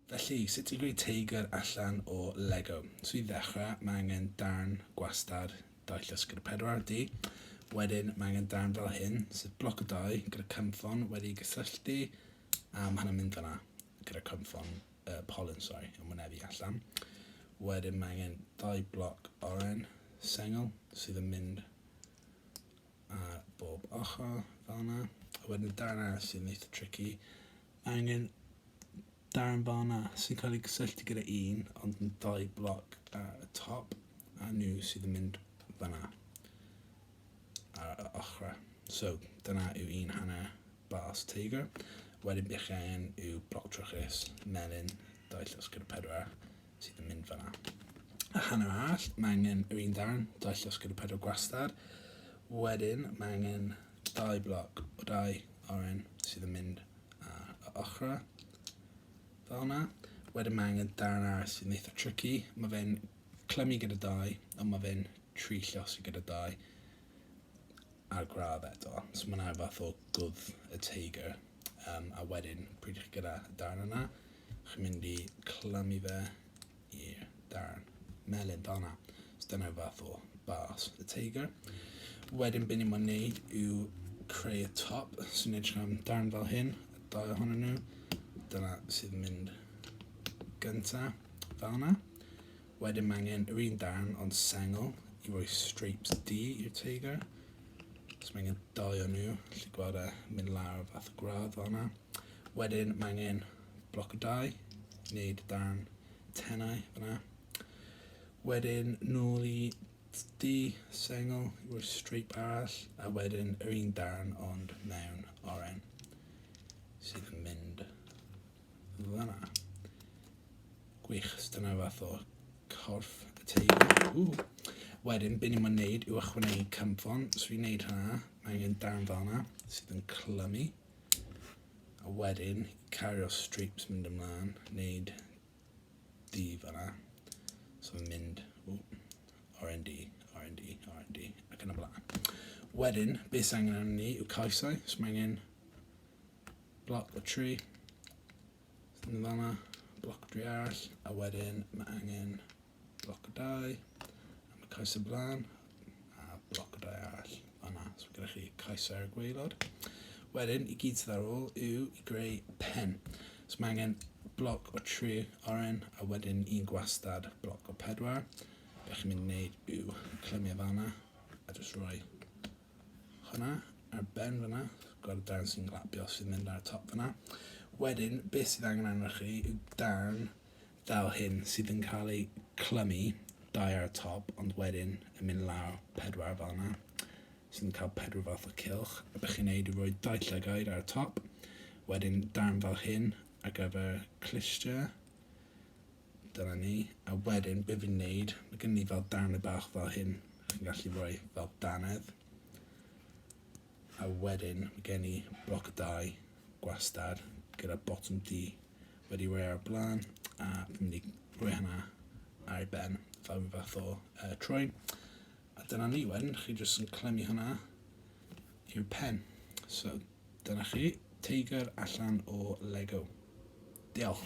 Felly, sut i greu teigr allan o Lego? So i ddechrau, mae angen darn gwastad dau llysgr pedwar di. Wedyn, mae angen darn fel hyn, sef bloc o dau gyda cynffon wedi gysylltu, a mae hynny'n mynd fanna gyda cynffon uh, pollen, sorry, yn wynebu allan. Wedyn mae angen dau bloc oren sengl sydd yn mynd ar bob ochr fel yna. A wedyn y darn arall sy'n eitha tricky. Mae angen darn fel yna sy'n cael ei gysylltu gyda un, ond yn dau bloc ar y top, a nhw sydd yn mynd fel yna ar y ochrau. So, dyna yw un hanner bars Tiger. Wedyn bych angen yw bloc trwchus, melyn, dau llys gyda pedwar, sydd yn mynd fanna. A hanner all, mae angen yr un darn, dau llosg gyda pedwar gwastad. Wedyn, mae angen dau bloc o dau oren sydd yn mynd ar y ochrau. Fel yna. Wedyn mae angen darn ar sydd yn eitha tricky. Mae fe'n clymu gyda dau, ond mae fe'n tri llosg gyda dau. a'r gradd eto. So mae'n rhaid fath o gwdd y teigr. Um, a wedyn, pryd chi'n gyda y darn yna, chi'n mynd i clymu fe i'r darn melyn fel yna. So dyna fath o bas y teigr. Wedyn beth ni'n mynd wneud yw creu y top. So ni'n edrych am darn fel hyn, y dau ohonyn nhw. Dyna sydd mynd gyntaf fel yna. Wedyn mae angen yr un darn ond sengl i roi stripes du i'r teigr. So mae angen dau o nhw, lle gweld e mynd lawr fath o gradd fel yna. Wedyn mae angen bloc o dau, wneud darn tenau fyna. Wedyn nôl i du, sengl i roi strip arall a wedyn yr un darn ond mewn oren sydd yn mynd Fanna. Gwych, so dyna fath o corff y teulu. Wedyn, be ni'n mynd wneud yw ychwanegu cymfon. So fi'n wneud hynna, mae angen dan fanna sydd yn clymu. A wedyn, cario strips mynd ymlaen, wneud di fanna. So fi'n mynd, ww, R&D, R&D, R&D, ac yn y blaen. Wedyn, beth sy'n angen arnyn ni yw caesau, so mae angen Block the tree. Yn fanna, block y tree arall, a wedyn mae angen block y dau, a mae cais y blaen, a block y dau arall fanna. So gyda chi cais ar y gweilod. Wedyn, i gyd sydd ar ôl yw i greu pen. So mae angen block o tri oren, a wedyn un gwastad block o pedwar. Be chi'n mynd i wneud yw clymio fanna, a jyst rhoi Hwnna, ar ben fyna, gweld y dan sy'n glapio sy'n mynd ar y top fyna. Wedyn, beth sydd angen arnoch chi yw dan fel hyn sydd yn cael ei clymu dau ar y top, ond wedyn yn mynd lawr pedwar fel yna, sy'n cael pedwar fath o cilch. A bych chi'n neud i roi dau llygaid ar y top, wedyn darn fel hyn ar gyfer clistia, Dyna ni. A wedyn, be fi'n neud, mae gen ni fel dannedd bach fel hyn. Chi'n gallu rhoi fel dannedd. A wedyn, mae gen i bloc y dau gwastad gyda bottom D wedi rhoi ar y blaen a fi'n mynd i rhoi hynna ar ei ben fel rhyw fath o uh, trwy. A dyna ni wedyn, chi jyst yn clymu hynna i'r pen. So, dyna chi, teigr allan o Lego. Diolch.